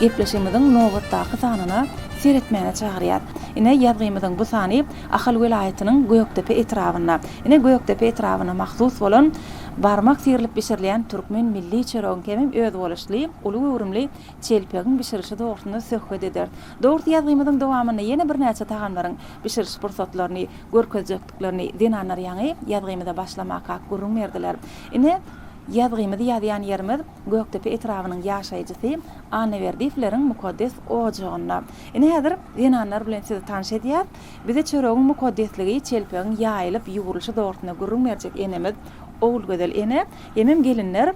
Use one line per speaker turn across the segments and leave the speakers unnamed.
Gepleşigimiziň nobatdaky sanyna seretmäne çagyrýar. Ine, ýazgymyzyň bu sany Ahal welaýatynyň Gökdepe etrabynda, ine, Gökdepe etrabyna mahsus bolan barmak syrylyp bişirilýän türkmen milli çöregiň hemem özboluşly, uly göwrümli çelpegiň bişirilişi dogrusynda söhbet ederis. Dogrusy, ýazgymyzyň dowamynda ýene birnäçe tagamlaryň bişiriliş pursatlaryny görkezjekdiklerini zenanlar ýaňy ýazgymyza başlamakak gürrüň berdiler. Ine, ýazgymyzy ýazýan ýerimiz. Gökdepe etrabynyň ýaşaýjysy Annaberdiýewleriň mukaddes ojagynda. Ine häzir zenanlar bilen sizi tanyş edýäs. Bize çöregiň mukaddesligi, çelpegiň ýaýylyp ýugrulyşy dogrusynda gürrüň berjek enemiz Ogulgözel ene hemem gelinler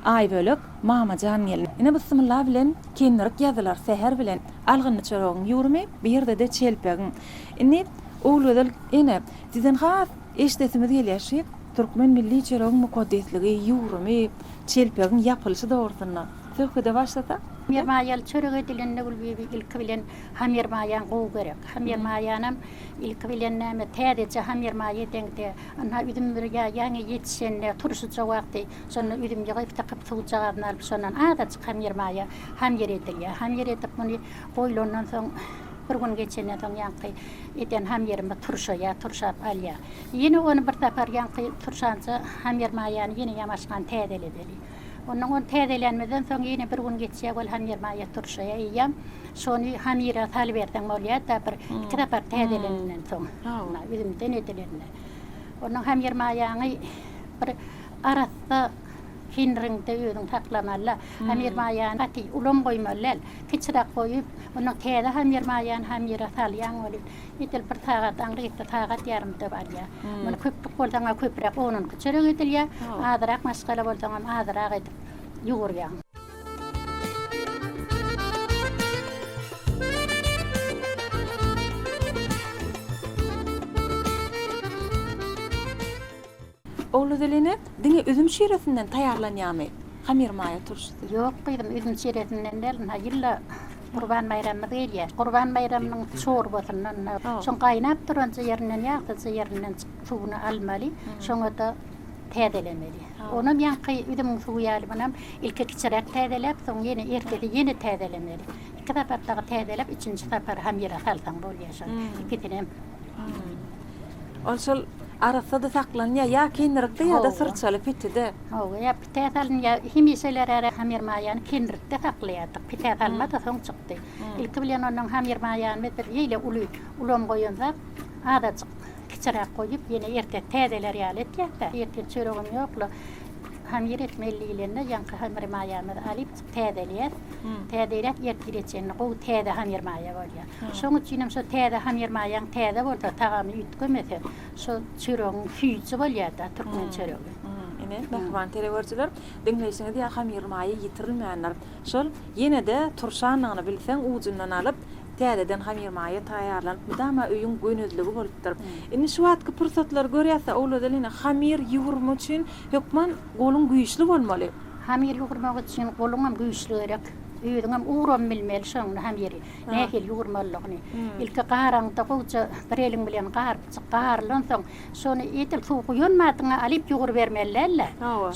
Aýbölek, Mamajan gelin. Ine bysymylla bilen kendirik ýazylar säher bilen algynly çöregiň ýugrumy, bu ýerde-de çelpegiň. Indi Ogulgözel ene sizden has Eşidesimiz gelýär şi, türkmen milli çöregiň mukaddesligi, ýugrumy, çelpegiň ýapylyşy dogrusynda söhbede başlasak? Hamermaýaly çörek
edilende Gülbibi ilki bilen hamermaýany gowy görek. Hamermaýanam ilki bilen näme, täzeje hamermaý edeňde, ynha üzüm bir ýa ýaňy ýetişende, turşuja wagty, şonda üzüm ýygyp sykyp suwjagazyny alyp şondan azajyk hamermaýa hamýer edilýär. Hamýer edip muny goýlandan soň bir gün geçenden soň ýaňky Eden hamyrymyz turşaýar, turşap alýar. Ýene ony bir sapar ýaňky turşança hamyr maýany ýene ýamaşgan täzeledeli. Onnoň ony täzelänimizden soň ýene bir gün geçýär, ol hamyr maýa turşaýar. Eýýäm şony hamyra salyberseň bolýar-da, bir iki sapar täzelenenden soň, üzümden edilende. Onnoň hamyr maýaňy bir arassa, Hindiriňde özüňi saklamaly. Hamir maýany gaty ulam goýmaly däl. Kiçiräk goýup, ondan täze hamir maýany hamire salýaň welin, edil bir sagat aňryýetde sagat ýarymda barýar. Muny köplük bolsaňa köpräk on-on iki çörek edilýär, azyrak maşgala bolsaňam azyrak edip ýugurýaň.
Ogly Zeline, diňe üzüm şiresinden taýýarlanýarmy hamyr maýa turşusy? Ýok gyzym, üzüm
şiresinden däl, ynha, ýylda Gurban baýramymyz gelýär. Gurban baýramynyň çorbasyndan, ynha, şoň gaýnap duran jyýerinden, ýagty jyýerinden suwuny almaly, şoňa-da täzelemeli. Onam ýaňky üzümiň suwy ýaly munam ilki kiçiräk täzeläp, soň ýene ertesi ýene täzelemeli. Iki sapar dagy täzeläp, üçünji sapar hamyra salsaň bolýar şony, ikisinem. Ol
şol arassa-da saklanýar, ýa kinrikde, ýa-da syrçaly pitide. Hawa, ýa pite
salynýar. Hemişeler-ä hamir maýany kinrikde saklaýardyk. Pite salma-da soň çykdy. Ilki bilen onuň hamir maýanyny biz eýle uly ulam goýanzak, azajyk kiçiräk goýup, ýene ertesi täzeler ýaly etýäs-dä. Ertir çöregem ýok, hamir etmeli diýlende, ýaňky hamir maýamyzy alyp, täzeleýäs. Täzeläp ertire çenli gowy täze hamir maýa bolýar. Şoň üçin hem şo täze hamir maýaň täze bolsa, tagamy üýtgemese, şo çöregiň süýji bolýar-da, türkmen çöregi. Ine, mähriban
telewörjiler, diňleýşiňiz ýa hamir maýa ýitirilmändir. Şol ýene-de turşandygyny bilseň, ujundan alyp, täzeden hamir maýa taýýarlanyp, mydama öýüň gönezligi bolupdyr. Indi şu wagtky pursatlary görýäs-de, owladalyna hamir ýugrumy üçin hökman Goluň güýçli bolmaly. Hamyr ýugurmak
üçin goluňam güýçli gerek. Özüňem ugram bilmeli şony hamyry nähili ýugurmalydygyny. Ilki garaňda gowja bir eliň bilen garypjyk garylansoň, şony edil suw guýanmadyňa alyp ýugrubermeli däl-de.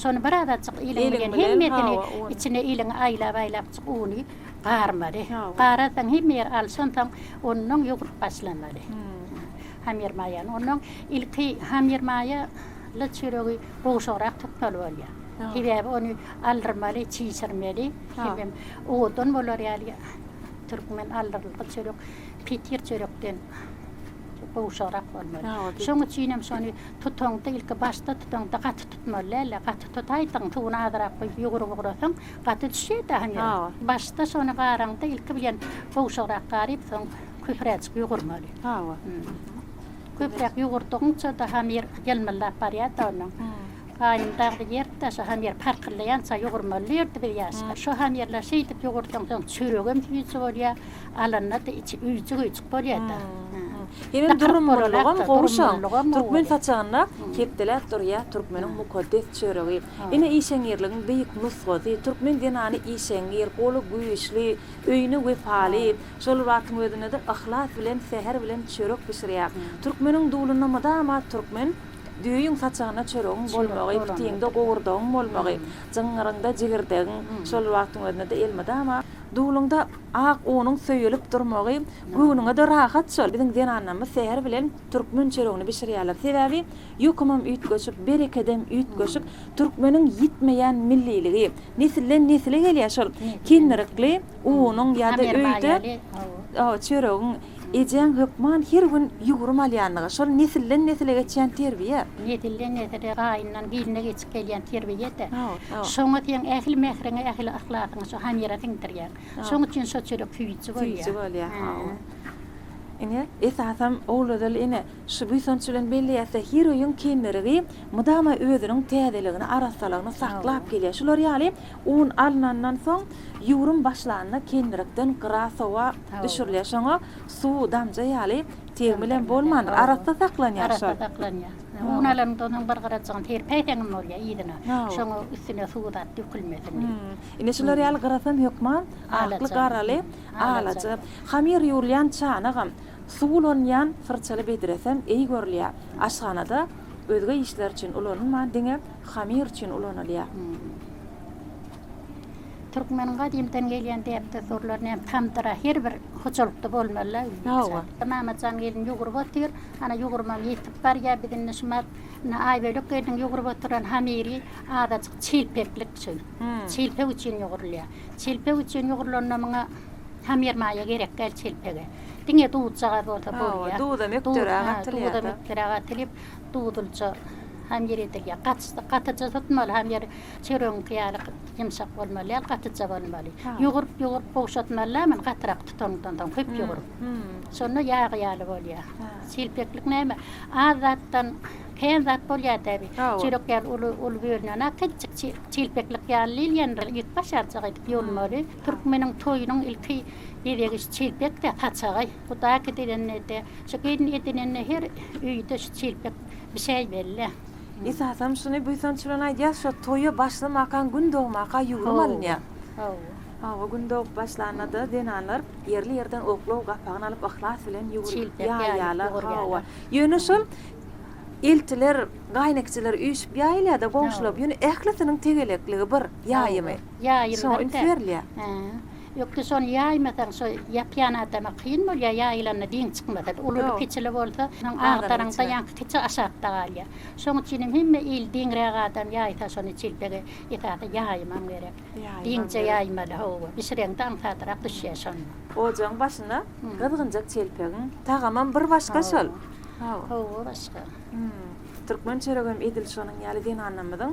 Şony bir azajyk eliň bilen hemmesini içine eliňi aýlap-aýlapjyk uny garmaly. Gararsoň hemme ýer alşansoň, onnoň ýugrup başlamaly hamyrmaýany. Onnoň ilki hamyrmaýaly çöregi. gowşagrak tutmaly bolýar. Sebäbi ony aldyrmaly, çişirmeli. Hemem owadan bolar ýaly türkmen aldyrylgy çörek petir çörekden gowşagrak bolmaly. Şonuň üçin hem şony tutaňda ilki başda tutaňda gaty tutmaly däl-de, gaty tutaýsaň, suwuny azyrak guýup ýugrup ugrasaň, gaty düşýär-de hany. Başda şony garaňda ilki bilen gowşagrak garyp, soň köpüräjik ýugurmaly. Hawa. Köpräk ýugurtdygyňça daha mir ýylmyldap barýardy onuň. Gaýnym dagdy ýertde şo hamir parkyllaýança ýugurmaly diýerdi biz ýaşlar. Şo hamirler şeýdip ýugurtsaň soň çöregem süýji bolýar, alanda-da içi üýjük-üýjük bolýar-da. Hemem
durumlylygam gowy şoň. Türkmen saçagynda kepdeläp durýar türkmeniň mukaddes çöregi. Ine işeňňirligiň beýik nusgasy, türkmen zenany işeňňir, goly güýçli, öýüne wepaly, Şol wagtyň özünde-de yhlas bilen säher bilen çörek bişirýär. Türkmeniň dulunda mydama türkmen, Düýeýiň saçagynda çöregiň bolmagy, pitiňde gowurdagyň bolmagy, jyňňyryňda jigirdegiň, şol bir wagtyň özünde-de elmydama, duluňda ak unuň söýülip durmagy göwnüňe-de rahat şol. Biziň zenanlarymyz säher bilen türkmen çöregini bişirýärler. Sebäbi ýokumam üýtgeşik, berekedem üýtgeşik. Türkmeniň ýitmeýän milliligi, nesilden-nesile gelýär şol kindirikli. unuň ýa-da öýde çöregiň ejäň hökman her gün ýugrum alýandygy, şol nesilden-nesile geçýän terbiýe. Nesilden-nesile,
gaýyndan-giline geçip gelýän terbiýe-de. Şoňa seň ähli mähriňi, ähli yhlasyňy şo hamyra siňdirýäň. Şoň üçin şo çörek süýji bolýar. Süýji bolýar, hawa.
Ine, esasam Ogulgözel ene Şu buýsanç bilen belleýäs-de, heroýyň kemmerigi mydama özüniň täzeligini, arassalygyny saklap gelýär. Şular ýaly un alnandan soň, ýuwrym başlanda kemmerikden gyra sowa düşürilýär. Şoňa suw damja ýaly tegmilem bolmandyr, arassa saklanýar. Arassa saklanýar.
Un alandan soň bir gyrajygyny serpäýseňem bolýar yzyna. Şoňa üstüne suw zat dökülmesin diýip. Ine, şular
ýaly gyrasam hökman akly-garaly, alaja. Hamyr ýuwulýan çanagam. Suw ulanylýan syrçaly bedresem eý görülýär. Aşhanada özge işler üçin ulanylman diňe hamir üçin ulanylýar.
Türkmeniň gadymdan gelýän däp-dessurlaryny hem tamdyra her bir hojalykda bolmaly-la özi misal. Mamajan gelin ýugrup otyr. Ana ýugrumam ýitip barýar. Biz indi şu mat indi Aýbölek gelniň ýugrup oturan hamiri azajyk çilpeklik şu. Çilpek üçin ýugrulýar. Çilpek üçin ýugrulanynda muňa. Hamir maýa gerek däl çelpege. Diňe duzjagaz bolsa bolýar. Duzam ökderäk
atylýar. Duzam ökderäk
atylyp, duzlyja hamir edilýär. Gaty, gatyja tutmaly hamir. Çöregiňki ýaly ýumşak bolmaly däl, gatyja bolmaly. Ýugrup, ýugrup gowşatmaly-la muny gatyrak tutandan soň, köp ýugrup. Şonda ýagy ýaly bolýar. Çelpeklik näme? Az zatdan kän zat bolýar-da bi. Çörek ýaly uly, uly bölünenok. Kiçijik çelpeklik ýaly diýilýändir. Ýüp başarjak edip ýulmaly. Türkmeniň toýunyň ilki bezegi şu çelpekde, saçagaý. Bu daky diýlende-de, şu gelin edinende her öýde şu çelpek bişäýmeli-le. Esasam şuny
buýsanç bilen aýdýas, şo toýa başlamakaň gün dogmaka ýüwrüm alynýar. Hawa. Hawa, gün dogup başlanda-da zenanlar ýerli ýerden oklaw gapagyny alyp yhlas bilen ýüwrüp ýaýýarlar. Hawa. Ýöne şol eltiler, gaýnekçiler üýşüp ýaýylýar-da, goňşular. Ýöne ählisiniň tegelekligi bir, ýaýymy. Ýaýylgyn da. Ökde şony ýaýmasaň şo ýapýan adama kyn bolýar ýaýylanda diň çykmasady. Ululy kiçili bolsa şonuň agdaryňda ýaňky kiçi aşakda galýar. Şoň üçinem hemme il diňräk adam ýaýsa şony çiltege esasy ýaýman gerek. Diňje ýaýmaly hawa. Bişireňde aňsadrak düşýär şonda. Ojagyň başyna gyzgynjak çelpegiň tagamam bir başga şol. Hawa
başga. Türkmen
çöregem edil şonuň ýaly zenanlarymyzyň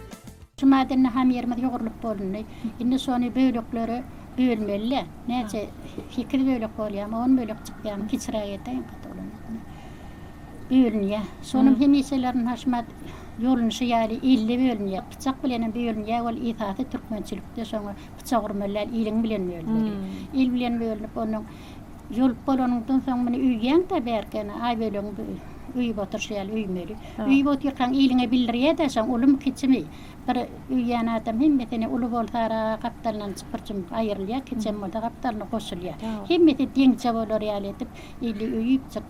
Juma gününe hamyrymyz ýugrulyp bolundy. Indi şony böleklere bölmeli-de. Näçe, sekiz bölek bolýamy, on bölek çykýamy, kiçiräk edeýin, gaty bolan ýok ine. Bölünýär. Şonuň hemişelerin Haşmat ýolunşy ýaly elde bölünýär. Pyçak bilenem bölünýär, ol esasy türkmençilikde şoňa pyçak urmaly däl, iliň bilen bölünmeli. Il bilen bölünip, onuň Ýolup bolanyňdan soň muny öýýäň-dä bärkeni, Aýbölegiň bu öýüp oturyşy ýaly öýmeli. Öýüp otyrkaň iliňe bildirýä-dä şoň, ulumy-kiçimi. Bir öýýän adam hemmesini uly bolsa-da gapdalyndan çypyr-çümüp aýrylýar, kiçem bolsa gapdalyna goşulýar. Hemmesi deňçe bolar ýaly edip ili öýüpjik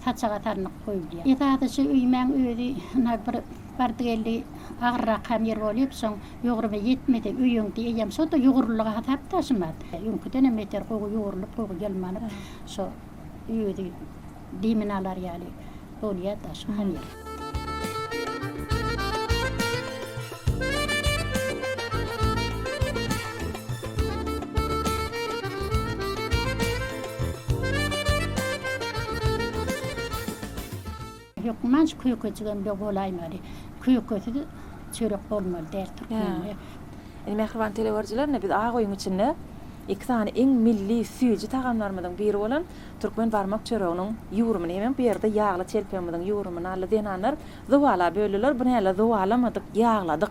saçaga salnyp goýulýar. Esasy şu öýmäň özi ynha bir. Bardy-geldi agyrrak hem ýer bolyp, soň ýugrumy ýetmedi. Öýüňki eýýäm şo-da ýugrulyga hasap daşymaz. Öňküden hem beter gowy ýugrulyp, gowy ýylmanyp, şo özi demini alar ýaly bolýar-da şo hem ýer. Hökman kökejigem-de bolaýmaly. Kökesiz çörek
bolmaly däl türkmende. Indi mähriban teleüerjilerine biz ak öýüň
içinde
iki sany iň milli süýji tagamlarymyzyň biri bolan türkmen barmak çöreginiň ýugrumyny hemem bu ýerde ýagly telpeimiziň ýugrumyny aldy zenanlar zowala böldiler. Bu näle zowalamadyk ýagladyk.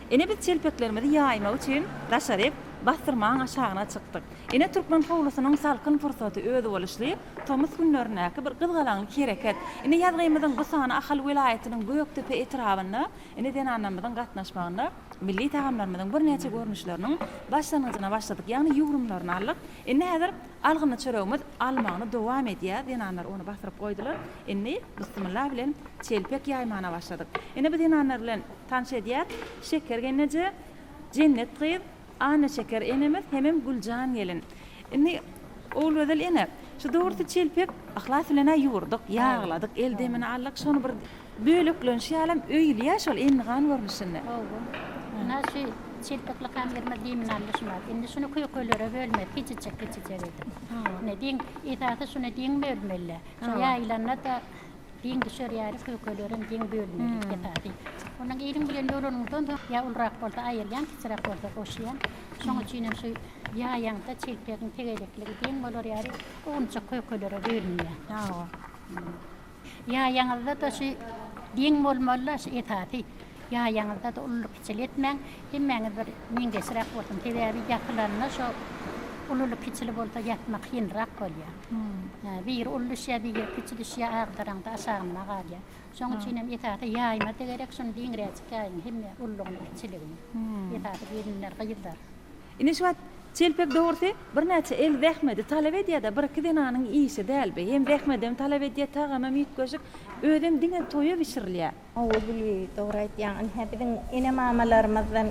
Ine biz çelpeklerimizi ýaýmak üçin daşaryk Bassyrmaň aşagyna çykdyk. Ine türkmen howlusynyň salkyn pursaty özboluşly tomus günlerindäki bir gyzgalaňly hereket. Ine ýazgymyzyň bu sany Ahal welaýatynyň Gökdepe etrabynda ine zenanlarymyzyň gatnaşmagynda milli tagamlarymyzyň birnäçe görnüşleriniň başlangyjyna başladyk ýagny ýugrumlaryny aldyk. Indi häzir algynly çöregimiz almagyny dowam edýär. Zenanlar ony basyryp goýdular. Indi bysmylla bilen çelpek ýaýmana başladyk. Ine bu zenanlar bilen. Tanyş edýär, Şeker gelneje, Jennet gyz, Annaşeker enemiz hemem Güljan gelin. Indi, Ogulgözel ene, şu dogrusy çelpek yhlas bilen-ä ýugurdyk, ýagladyk, el demini aldyk, şony bir böleklenişi ýalam öýülýär şol endigan görnüşinde. Hawa. Ynha,
şu çelpek lykam girmez demini aldy şular. Indi şuny kökelere bölmez, kiçijek-kiçijek edip. Ine, diň, esasy şuny diň bölmeli. Şo ýaýylanda-da Geň düşerýäris, kökelerem geň bölmeli, esasy. Ondan iliň bilen dolanyňdan soň, ýa ulurak bolsa aýyrýaň, kiçiräk bolsa goşýaň. Şonuň üçinem şu ýaýaňda çelpegiň tegerekligi deň bolar ýaly, owunçak kökelere bölünýär. Hawa. Ýaýaňyzda-da şu deň bolmaly-da, şu esasy. Ýaýaňyzda-da ululy-kiçili etmäň. Hemmäňiz bir meňzeşräk bolsun. Sebäbi ýatylanda şo ululy-kiçili bolsa ýatmak kynrak bolýar. Hum. Biri uly düşýär, biri kiçi düşýär, agdaraňda aşagynda galýar. Şoň üçin hem esasy ýaýma-da gerek, şuny diňräjik ýaýyň, hemme ululygyny, kiçiligini. Esasy gelinler, gyzlar. Ine şu wagt
çelpek dogrusy birnäçe el zähmedi talap edýär-de, bir-iki zenanyň işi däl bi. Hem zähmedem talap edýär, tagamam üýtgeşik, özem diňe toýa bişirilýär. Hawa Gülbi dogry
aýtýaň. Ynha biziň ene mamalarymyzdan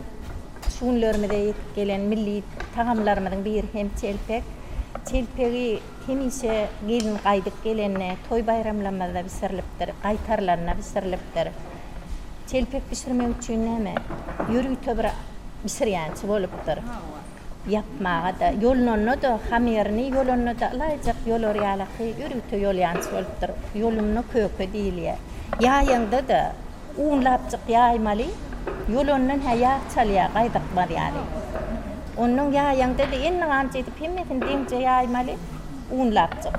şu günlerimize ýetip gelen milli tagamlarymyzyň biri hem çelpek. Çelpegi hemişe gelin gaýdyp gelende, toý baýramlamyzda bişirilipdir, gaýtarylanda bişirilipdir. Çelpek bişirmek üçin näme ýörite bir bişirýänçi bolupdyr. ýapmaga-da, ýolunanda-da, hamerini ýolanda-da ylaýjak ýolar ýalaky ýörite ýolýanç bolupdyr. Ýolumna köke diýilýär. Ýaýaňda-da, unlapjyk ýaýmaly, ýolandan hä ýag çalýar, gaýdykmaz ýaly. Ondan ýaýaňda-da endiganç edip hemmesini deňje ýaýmaly, unlapjyk.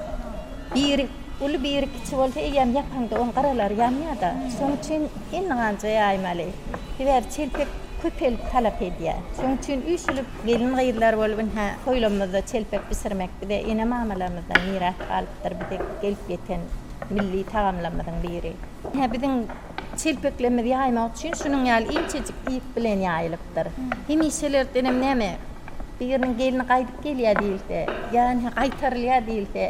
Biri uly, biri kiçi bolsa eýýäm ýapaňda onuň gyralary ýanýar-da. Şonuň üçin endiganja ýaýmaly. Sebäbi çelpek. köpelip talap edýär. Şonuň üçin üýşülip gelin-gyzlar bolup ynha toýlarymyzda çelpek bişirmek bize ene-mamalarymyzdan miras galypdyr, bize gelip ýeten milli tagamlarymyzyň biri. Ynha biziň çelpeklerimizi ýaýmak üçin şunuň ýaly inçejik ýüp bilen ýaýylypdyr. Hemişelerdenem näme biriniň gelni gaýdyp gelýär diýilse ýa ynha gaýtarylýar diýilse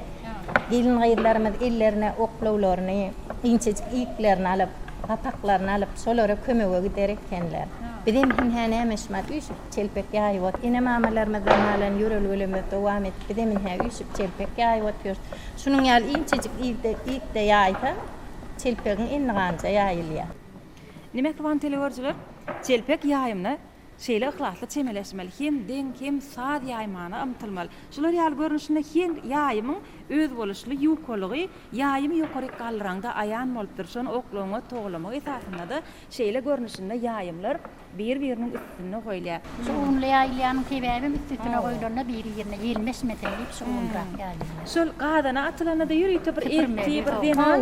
Gelin-gyzlarymyz ellerine oklawlaryny, inçejik iýiklerini alyp, gapaklaryny alyp, şolara kömege gider ekenler. Bizem hün-hä näme şumat üýşüp, çelpek ýaýyp ot. Ene-mamalarymyzdan galan ýörelgelerimizi dowam edip, bizem ine, üýşüp, çelpek ýaýyp otyrys. Şunuň ýaly inçejik iýikde ýaýsaň, çelpegiň endiganja ýaýylýar. Nime
sowan teleügerjiler? Çelpek ýaýymyna Şeýle yhlasly çemeleşmeli, hem deň, hem saz ýaýmana ymtylmaly. Şular ýaly görnüşinde her ýaýymyň özboluşly ýukalygy ýaýymy ýokaryk galdyraňda aýan bolup dur. Şony oklagyňa togalamak esasynda-da şeýle görnüşinde ýaýymlar bir-biriniň üstünde goýulýar. Şu ugunly ýaýylýanyň
sebäbem üst-üstüne goýlanda biri-birine ýelmeşmesin diýip şu ugunrak ýaýylýar. Şol gazana
atylanda-da ýörite bir erkli bir zenan.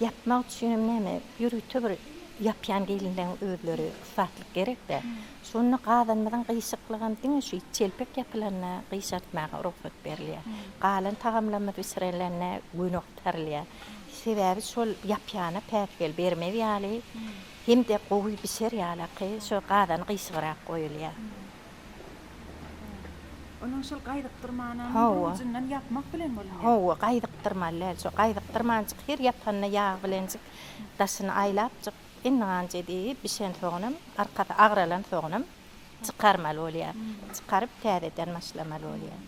Ýapmak üçinem näme ýörite bir ýapýan gelinleň özleri ussatlyk gerekdä. Şonda gazanymyzyň gyýşyklygam diňe şu çelpek ýapylanda gyýşartmaga rugsat berilýär. Galan tagamlarymyz bişirilende göni gutarilýär. Sebäbi şol ýapýana päsgel bermez ýaly hem-de gowy bişer ýalaky şo gazan gyýşygrak goýulýar.
Onuň şol gaýdykdyrmanam ujundan ýapmak bilen bolmaýar. Hawa, gaýdykdyrman
däl, şo gaýdykdyrmanjyk her ýapanda ýag bilenjik daşyny aýlapjyk indi ganja diýip bişensoňunam, arkasy agralansoňunam çykarmaly bolýar. Çykaryp täzeden başlamaly bolýar.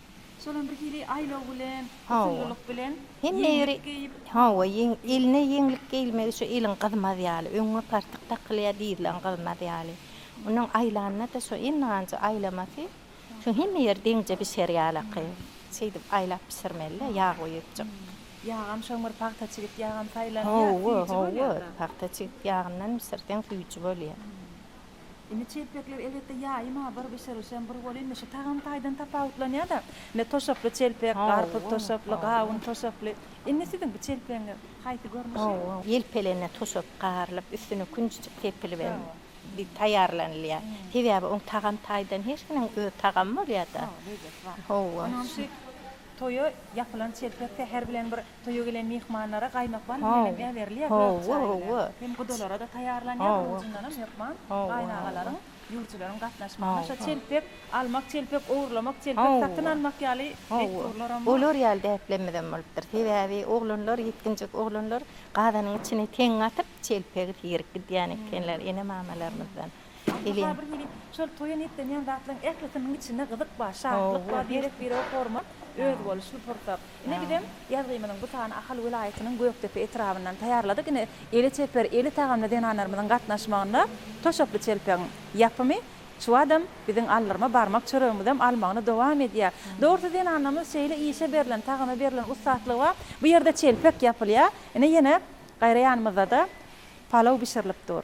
Şolam
bir hili aýlaw bilen, usullylyk bilen, ýeňlik geýip. Hawa, eline ýeňlik geýilmegi şu eliň gyzmaz ýaly, öňňe partyk dakylýar, dizleň gyzmaz ýaly. Onuň aýlanda-da şo endigança aýlamasy, şo hemme ýer deňje bişer ýalaky. Şeýdip aýlap bişirmeli-dä, ýag guýujyk. Ýagam şoň
bir pagta çigit ýagam saýlanýar, süýji bolýar-da. Hawa, hawa,
pagta çigit ýagyndan bişirseň süýji bolýar. Indi
çelpekler elbetde ýaýym ha bir bişirişem bir boluň indi şu tagam taýdan tapawutlanýada. Ine toşaply çelpek, garpyz toşaply, gawun toşaply. Indi siziň bu çelpegiňiz haýsy görnüşi? Elpelenä toşap
garylyp üstüne künjüjik sepilip hem diýip taýýarlanylýar. Sebäbi oň tagam taýdan her hiniň öz tagamy bolýada. Lezzeti bar. Hawa. Onam şu
toýa ýapylan çelpek säher bilen bir Toýa gelen myhmanlara gaýmakban bilen hem äberilýär gök çaýlar. Hem gudalara-da taýýarlanýar, onuň üçindenem hökman gaýynagalaryň, ýüwjüleriň gatnaşmagyna şo çelpek almak, çelpek ogurlamak, çelpek satyn almak ýaly dessurlaram bar. Olar ýaly däplemizem
bolupdyr. Sebäbi oglanlar, ýetginjek oglanlar gazanyň içine teňňe atyp, çelpegi tirip gidýän ekeniler ene-mamalarymyzdan. Ewen. Aslynda bir hili
şol toýa niýetlenýän zatlaryň ählisiniň içinde gyzyk bar, şatlyk bar, birek-birege hormat, özboluşly pursat. Ine bizem ýazgymyzyň bu sany Ahal welaýatynyň Gökdepe etrabyndan taýýarladyk. Ine eli çeper, eli tagamly zenanlarymyzyň gatnaşmagynda toşakly çelpegiň ýapymy çuwadam biziň aldyrma barmak çöregimizem almagyny dowam edýär. Dogrusy zenanlarymyz şeýle işe berlen, tagama berlen ussatlygy bar. Bu ýerde çelpek ýapylýar. Ine ýene gaýra ýanymyzdada palaw bişirilip dur.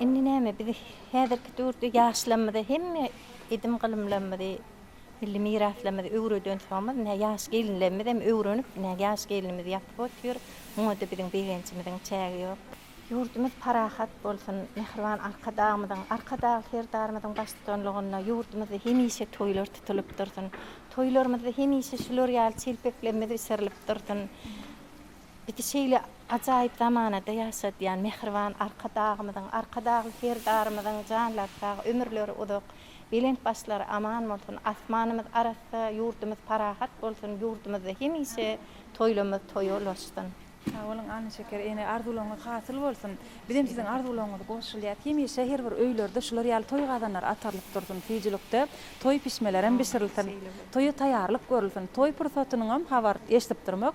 Indi näme biz häzirki döwürde ýaşlarymyza hemme edim-gylymlarymyzy, milli miraslarymyzy öwreden soňumyz ine ýaş gelinlerimizem öwrenip ine ýaş gelinimiz ýatyp otyr. Muňada biziň begenjimiziň çägi ýok. Ýurdumyz parahat bolsun, mähriban Arkadagymyzyň, Arkadagly Serdarymyzyň baştutanlygynda ýurdumyzda hemişe toýlar tutulyp dursun. Toýlarymyzda hemişe şular ýaly çelpeklerimiz bişirilip dursun. Bizi şeýle ajaýyp zamanada ýaşadýan mähriban Arkadagymyzyň, Arkadagly Serdarymyzyň janlary sag, ömürleri uzak, belent başlary aman bolsun, asmanymyz arassa, ýurdumyz parahat bolsun, ýurdumyzda hemişe toýlarymyz toýa ulaşsyn! Sag boluň
Annaşeker ene arzuwlaryňyz hasyl bolsun. Bizem siziň arzuwlaryňyza goşulýas. Hemişe her bir öýlerde şular ýaly toý gazanlary atarylyp dursun. Süýjülikde toý pişmelerem bişirilsin. Toýa taýýarlyk görülsin. Toý pursatynyňam habar eşidip durmak.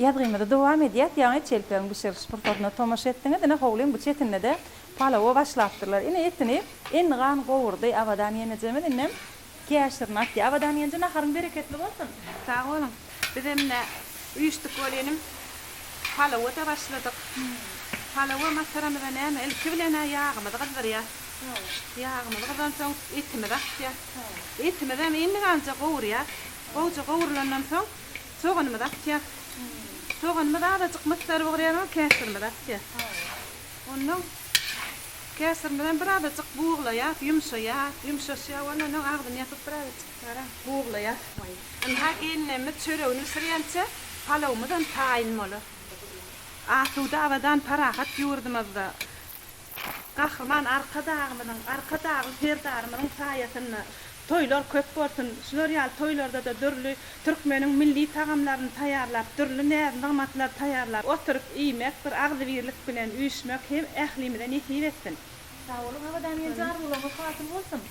Ýazgymyzy dowam edýäs, ýaňy çelpegiň bişiriliş pursatyna tomaşa etdiňiz, ine howlyň bu çetinde-de palawa başlapdyrlar. Ine etini Endigan gowurdy Abadan ýenejemiz, indem käşirini atýar. Abadan ýenje naharyň bereketli bolsun. Sag boluň.
Bizem ine üýşdük weli inim. Palawa-da başladyk. Palawa masaramyza näme, ilki bilen-ä ýagymyzy gyzdyrýas. Ýagymyz gyzansoň etimizi atýas. Etimizem Endiganja gowurýas. Gowja gowrulandan soň. Soganymyzy atýas. Soganymyz azajyk mysdar bugurýarys, käşirimizi atýas. Ondan käşirimiz hem bir azajyk buglaýas, ýumşaýar. Ýumşaşýar bolany ondan agzyny ýapyp bir azajyk garam buglaýas. Ynha gelinlerimiz çöregini bişirýänçä palawymyzam taýyn bolar. Asuda, abadan, parahat ýurdumyzda. Gahryman Arkadagymyzyň, Arkadagly Serdarymyzyň saýasynda toýlar köp bolsun! Şular ýaly toýlarda-da dürli türkmeniň milli tagamlaryny taýýarlap, dürli näz-nygmatlary taýýarlap oturyp iýmek, bir agzybirlik bilen üýşmek hem ählimize nesip etsin! Sag boluň Abadan
Genji arzuwlaryňyz hasyl bolsun.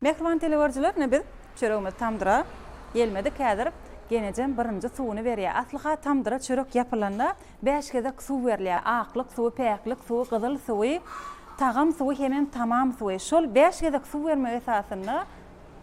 Mähriban telegörüjiler ine biz çöregimiz tamdyra gelmedik häzir genejem birinji suwuny berýä aslyha tamdyra çörek ýapylanda bäş gezek suw berilýä aklyk suwy päklik suwy gyzyl suwy tagam suwy hemem tamam suwy şol bäş gezek suw bermek esasynda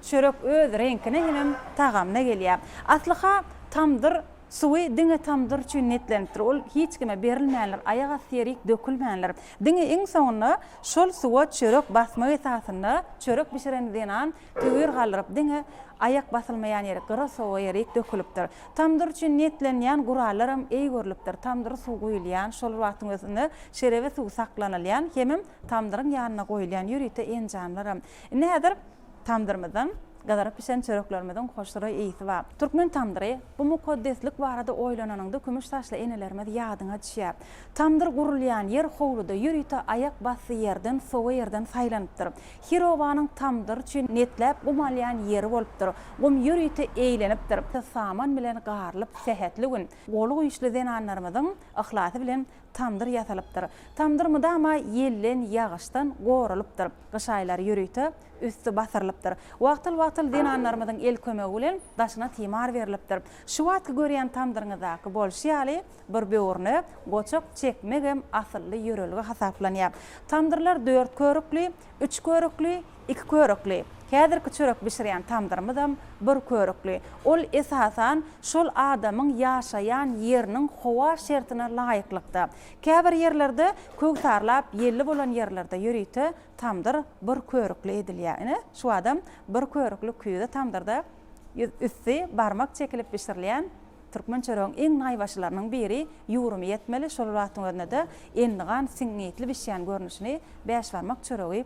çörek öz reňkine hemem tagamyna gelýä aslyha tamdyr Suwy diňe tamdyr üçin niýetlenipdir, ol hiç kime berilmändir, aýak asty ýerik dökülmändir. Diňe iň soňunda şol suwa çörek basmak esasynda çörek bişiren zenan töwir galdyryp, diňe aýak basylmaýan ýerik, gyra sowa ýerik dökülipdir. Tamdyr üçin niýetlenilýän gurallaram eý görlüpdir, tamdyra suw guýulýan, şol bir wagtyň özünde şerebe suw saklanylýan hemem tamdyryň ýanynda goýulýan ýörite enjamlaram. Indi häzir Tamdyrymyzdan gyzyryp bişen çöreklerimiziň hoşroý ysy bar. Türkmen tamdyry, bu mukaddeslik barada oýlananyňda kümüş saçly enelerimiz ýadyňa düşýär. Tamdyr gurulýan ýer howluda ýörite aýak basdy ýerden sowa ýerden saýlanypdyr. Her obanyň tamdyr üçin netläp gum alýan ýeri bolupdyr. Gum ýörite eýlenipdir. Saman bilen garylyp sähetli gün, goly güýçli zenanlarymyzyň yhlasy bilen Tamdyr ýasalypdyr. Tamdyr mydama ýelden, ýagyşdan goralypdyr. Gyş aýlary ýörite üsti basyrylypdyr. Wagtal-wagtal zenanlarymyzyň el kömegi bilen daşyna timar berlipdir. Şu wagtky görýän tamdyryňyzdaky bolşy ýaly bir böwrüne goçak çekmegem asylly ýörelge hasaplanýar. Tamdyrlar dört körükli, üç körükli, Iki körükli. Häzirki çörek bişirýän tamdyrymyzam bir körükli. Ol, esasan, şol adamyň ýaşaýan ýeriniň howa şertine laýyklykda. Käbir ýerlerde, köwsarlap ýelli bolan ýerlerde ýörite tamdyr bir körükli edilýär. Ine, şu adam bir körükli küýze tamdyrda üsti barmak çekilip bişirilýän türkmen çöregiň iň naýbaşylarynyň biri ýugrumy ýetmeli, şol wagtyň özünde-de endigan siňňitli bişýän görnüşini bäşbarmak çöregi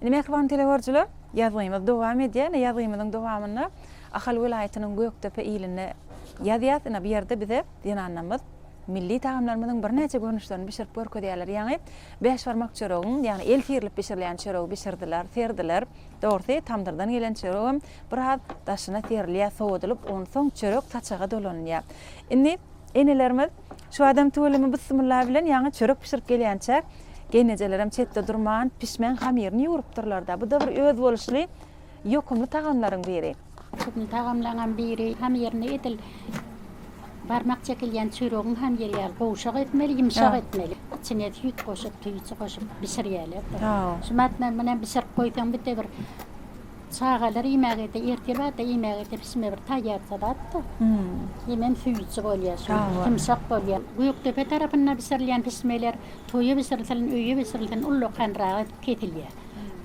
Indi mähriban telegörüjiler ýazgymyz dowam edýär. Indi ýazgymyzyň dowamynda Ahal welaýatynyň Gökdepe ilinde ýazýas. Indi bu ýerde bize zenanlarymyz milli tagamlarymyzyň birnäçe görnüşlerini bişirip görkezýärler. Ýaňy bäş barmak çöregiň, ýagny el syrylyp bişirilýän çöregi bişirdiler, serdiler. Dogrusy tamdyrdan gelen çöregem biraz daşyna serilýär, sowadylyp, onsoň çörek saçaga dolanylýar. Indi enelerimiz. Şu adam tüweleme byssymylla bilen ýaňy çörek bişirip gelýänçäk, geýnejelerem çetde durman, pişmeň hamyryny ýugrup-durlar-da. Bu-da bir özboluşly, ýokumly tagamlaryň biri. Ýokumly tagamlaňam
biri. Hamyryny edil barmak çekilýän çöregiň hamyry ýaly gowşak etmeli, ýumşak etmeli. Içine süýt goşup, tüýji goşup bişirýärler-de. Şu matmam bilen bişirip goýsaň, bir de bir. Çagalar iýmäge-de, ertir-bahar-da iýmäge-de pişme bir taýýar salatdyr. Hemem süýji bolýar şu, ýumşak bolýar. Gökdepe tarapynda bişirilýän pişmeler toýa bişirilsin, öýe bişirilsin ullakanrak edip kesilýär.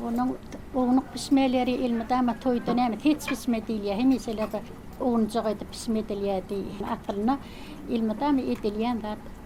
Onuň ownuk pişmeleri elmydama toýda näme seç pişme diýilýär, hemişeler bir ownujak edip pişme edilýär diý. Aslynda elmydama edilýän zat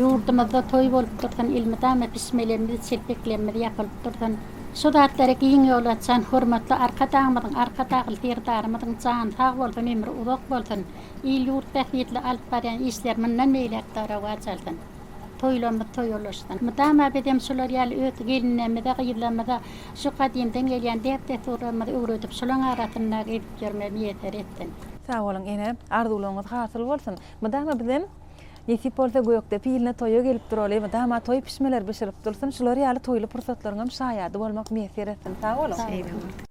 Ýurdumyzda toý bolup dursun, elmydama pişmelerimiz, çelpeklerimiz ýapylyp dursun. Şu zatlara giň ýol açan hormatly Arkadagymyzyň, Arkadagly Serdarymyzyň jany sag bolsun, ömri uzak bolsun, il-ýurt bähbitli alyp barýan işleri mundan beýläk-de rowaç alsyn. Toýlarymyz toýulaşsyn. Mydama bizem şular ýaly öz gelinlerimize, gyzlarymyza şu gadymdan gelýän däp-dessurlarymyzy öwredip, şolaň arasynda gezip ýörmegi miýesser etsin. Sag boluň ene,
arzuwlaryňyz hasyl bolsun! Mydama bizem, nesip bolsa, gökde piline toýa gelip duraly, mydama toý pişmeleri bişirip dursun, şular ýaly toýly pursatlaryňam şaýady bolmak miýesser etsin! Sag boluň! Sag boluň!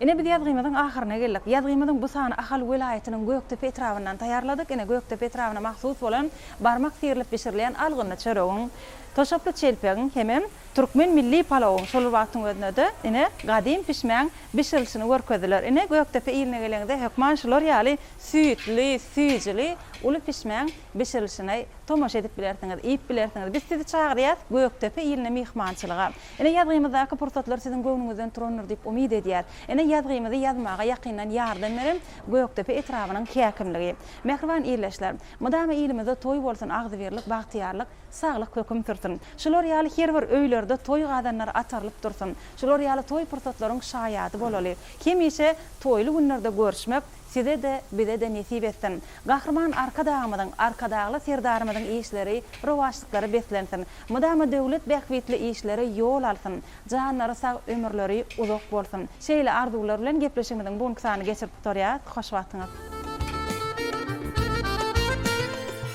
Ine biz ýazgymyzyň ahyryna geldik. Ýazgymyzyň bu sany Ahal welaýatynyň Gökdepe etrabyndan taýýarladyk. Ine Gökdepe etrabyna mahsus bolan barmak syrylyp bişirilýän algynly çöregiň, toşaply çelpegiň hemem türkmen milli palawyň şol bir wagtyň özünde-de ine gadym pişmäň bişirilişini görkezdiler. Ine Gökdepe iline geleňizde hökman şular ýaly süýtli, süýjüli uly pişmäň bişirilişine tomaşa edip bilersiňiz, iýip bilersiňiz. Biz sizi çagyrýas Gökdepe iline myhmançylyga. Ine ýazgymyzdaky pursatlar siziň göwnüňizden turandyr diýip umyt edýäs. Ine ýazgymyzy ýazmaga ýakyndan ýardam beren Gökdepe etrabynyň häkimligi. Mähriban ildeşler! Mydama ilimizde toý bolsun agzybirlik bagtyýarlyk saglyk höküm sürsün. Şular ýaly her bir öýlerde toý gazanlary atarylyp dursun. Şular ýaly toý pursatlaryň şaýady bolaly. Hemişe toýly günlerde görüşmek, Size-de, bize-de nesip etsin. Gahryman Arkadagymyzyň, Arkadagly Serdarymyzyň işleri, rowaçlyklary beslensin. Mydama döwlet bähbitli işleri ýol alsyn. Janlary sag, ömürleri uzak bolsun. Şeýle arzuwlar bilen gepleşigimiziň bu günki sanyny geçirip gutarýas. Hoş wagtyňyz.